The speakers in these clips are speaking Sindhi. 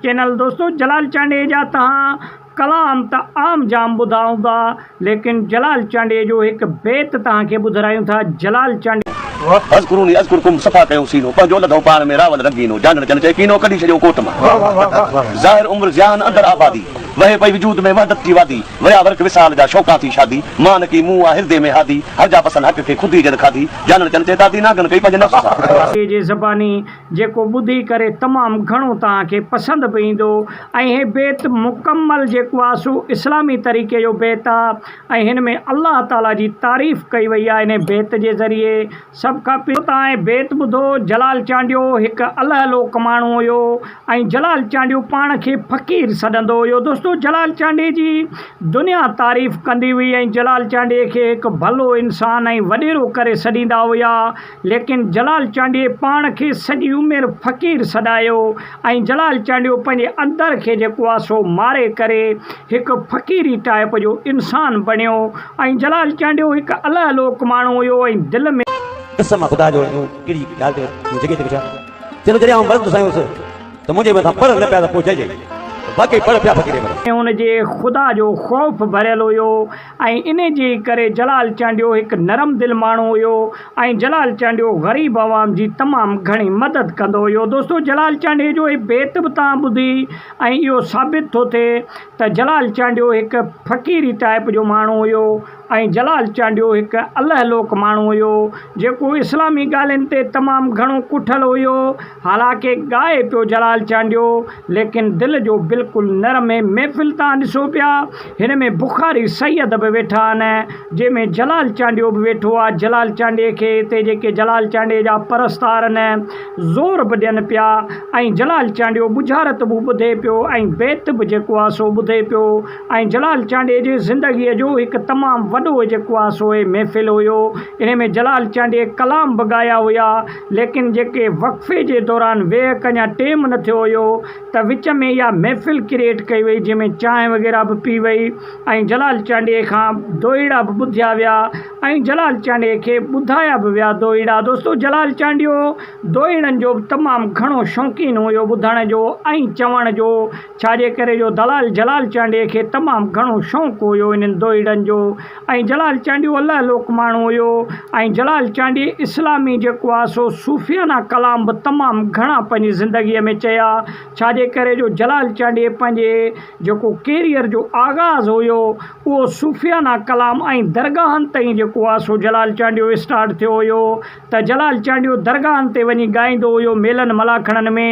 چينل دوستو جلال چانڊيي جا تهان ڪلام ته عام جام ٻڌا هوندا ليڪن جلال چانڊيي جو هڪ بيت تهان کي ٻڌرايون ٿا جلال چانڊيي اذڪروني اذڪرڪم صفا ڪيو سينو پنهنجو لڌئون پاڻ ۾ راول رنگينو جانڻ جن چئي ڪينو ڪڍي ڇڏيو ڪوٽ مان ظاهر عمر ضيان اندر آبادي وهي پئي وجود ۾ وحدت جي وادي ويا ورق وصال جا شوقان ٿي شادي مان نه ڪي مون آ هردي ۾ هادي هرجا پسند حق کي خود ئي جن کاڌي جانڻ جن چئي دادي نانگن ڪئي پنهنجي نفس سان. جي زباني جيڪو ٻڌي ڪري تمام گهڻو توهان کي پسند به ايندو ۽ هي بيت مڪمل جيڪو آهي سو اسلامي طريقي جو بيت آهي ۽ هن ۾ الله تعالي جي تعريف ڪئي وئي آهي انهي بيت جي ذريعي سڀ کان پهريون توهان هي بيت ٻڌو جلال چانڊيو هڪ الهه لوڪ ماڻهو هيو ۽ جلال چانڊيو پاڻ کي فقير سڏندو هيو دوستو جلال چانڊي جي دنيا تعريف ڪندي هئي ۽ جلال چانڊي کي هڪ ڀلو انسان ۽ وڏيرو ڪري سڏيندا هيا ليڪن جلال چانڊيي پاڻ کي سڄي عمر فقير سڏايو ۽ جلال چانڊيو پنهنجي اندر کي جيڪو آهي سو ماري ڪري هڪ فقيري ٽائيپ جو انسان بڻيو ۽ جلال چانڊيو هڪ اله لوڪ ماڻهو هيو ۽ دل ۾. قسم آ خدا جو مون اهڙي ڳالهه تي هن جڳهه تي ڪجهه چيو جڏهن آئون مرندس آهيان هوس ته منهنجي مٿان پڙهه نه پيا ته پوء چئجي ته واقعي پڙهه پيا فقيري مرن. ۽ هن جي خدا جو خوف ڀريل هيو. ۽ ان جي ڪري جلال چانڊيو هڪ نرم دل ماڻهو هيو ۽ جلال چانڊيو غريب عوام جي تمام گهڻي مدد ڪندو هيو. دوستو جلال چانڊيي جو هي بيت به توهان ٻڌي ۽ اهو ثابت ٿو ٿئي ته جلال چانڊيو هڪ فقيري ٽائيپ جو ماڻهو هيو ۽ جلال چانڊيو هڪ الهه لوڪ ماڻهو هيو جيڪو اسلامي ڳالهين تي تمام گهڻو ڪٺل هيو حالانڪه ڳائي پيو جلال چانڊيو، ليڪن دل جو بلڪل نرم ۽ محفل تان ڏسو پيا، هن ۾ بخاري سيد به ويٺا آهن، جنهن ۾ جلال چانڊيو به ويٺو آهي، جلال چانڊيي کي هتي جيڪي جلال چانڊيي جا پرستار آهن، زور به ڏين پيا ۽ جلال چانڊيو ٻجهارت به ٻڌي پيو ۽ بيت به جيڪو آهي سو ٻڌي پيو ۽ جلال چانڊيي جي زندگيء جو هڪ تمام وڏو جيڪو آهي سو هي محفل هيو، انهي ۾ جلال چانڊيي ڪلام به ڳايا هيا. ليڪن جيڪي وقفي جي دوران ويهه ڪن يا ٽيم نه ٿيو هيو ته وچ ۾ اها محفل ڪريئيٽ ڪئي وئي جنهن ۾ چانهه وغيره به پي وئي ۽ جلال چانڊيي کان دوهيڙا به ٻڌيا ويا ۽ جلال چانڊيي کي ٻڌايا به ويا دوهيڙا دوستو جلال چانڊيو دوهيڙن جو به تمام گهڻو شوقين هيو ٻڌڻ جو ۽ چوڻ جو ڇا جي ڪري جو دلال جلال چانڊيي کي تمام گهڻو شوق هيو انهن دوئيڙن جو ۽ جلال چانڊيو الله لوڪ ماڻهو هيو ۽ جلال چانڊيي اسلامي جيڪو آ سو صوفيانه ڪلام به تمام گهڻا پنهنجي زندگيء ۾ چيا ڇا جي ڪري جو جلال چانڊيي پنهنجي جيڪو ڪيريئر جو آغاز هيو اهو صوفيانه ڪلام ۽ درگاهن تئين جيڪو آ سو جلال چانڊيو اسٽارٽ ٿيو هيو ته جلال چانڊيو درگاهن تي وڃي ڳائيندو هيو ميلن ملاکڙن ۾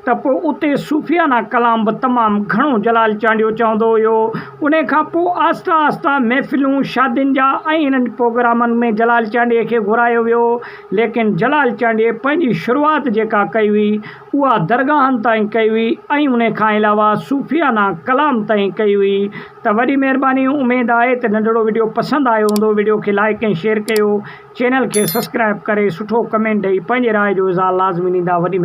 ته پوء اتي صوفيانه ڪلام به تمام گهڻو جلال چانڊيو چوندو هيو انهي کان پوء آهسته آهسته محفلون شادين جا ۽ انهن پوگرامن ۾ جلال چانڊيي کي گهرايو ويو ليڪن جلال چانڊيي پنهنجي شروعات جيڪا ڪئي هئي اها درگاهن تائين ڪئي هئي ۽ انهي کان علاوه صوفيانه ڪلام تائين ڪئي هئي ته وڏي مهرباني اميد آهي ته ننڍڙو وڊيو پسند آيو هوندو وڊيو کي لائڪ ۽ شيئر ڪيو. چينل کي سسڪرائب ڪري سٺو ڪمينٽ ڏئي پنهنجي راء جو اظهار لازمي ڏيندا وڏي مهرباني.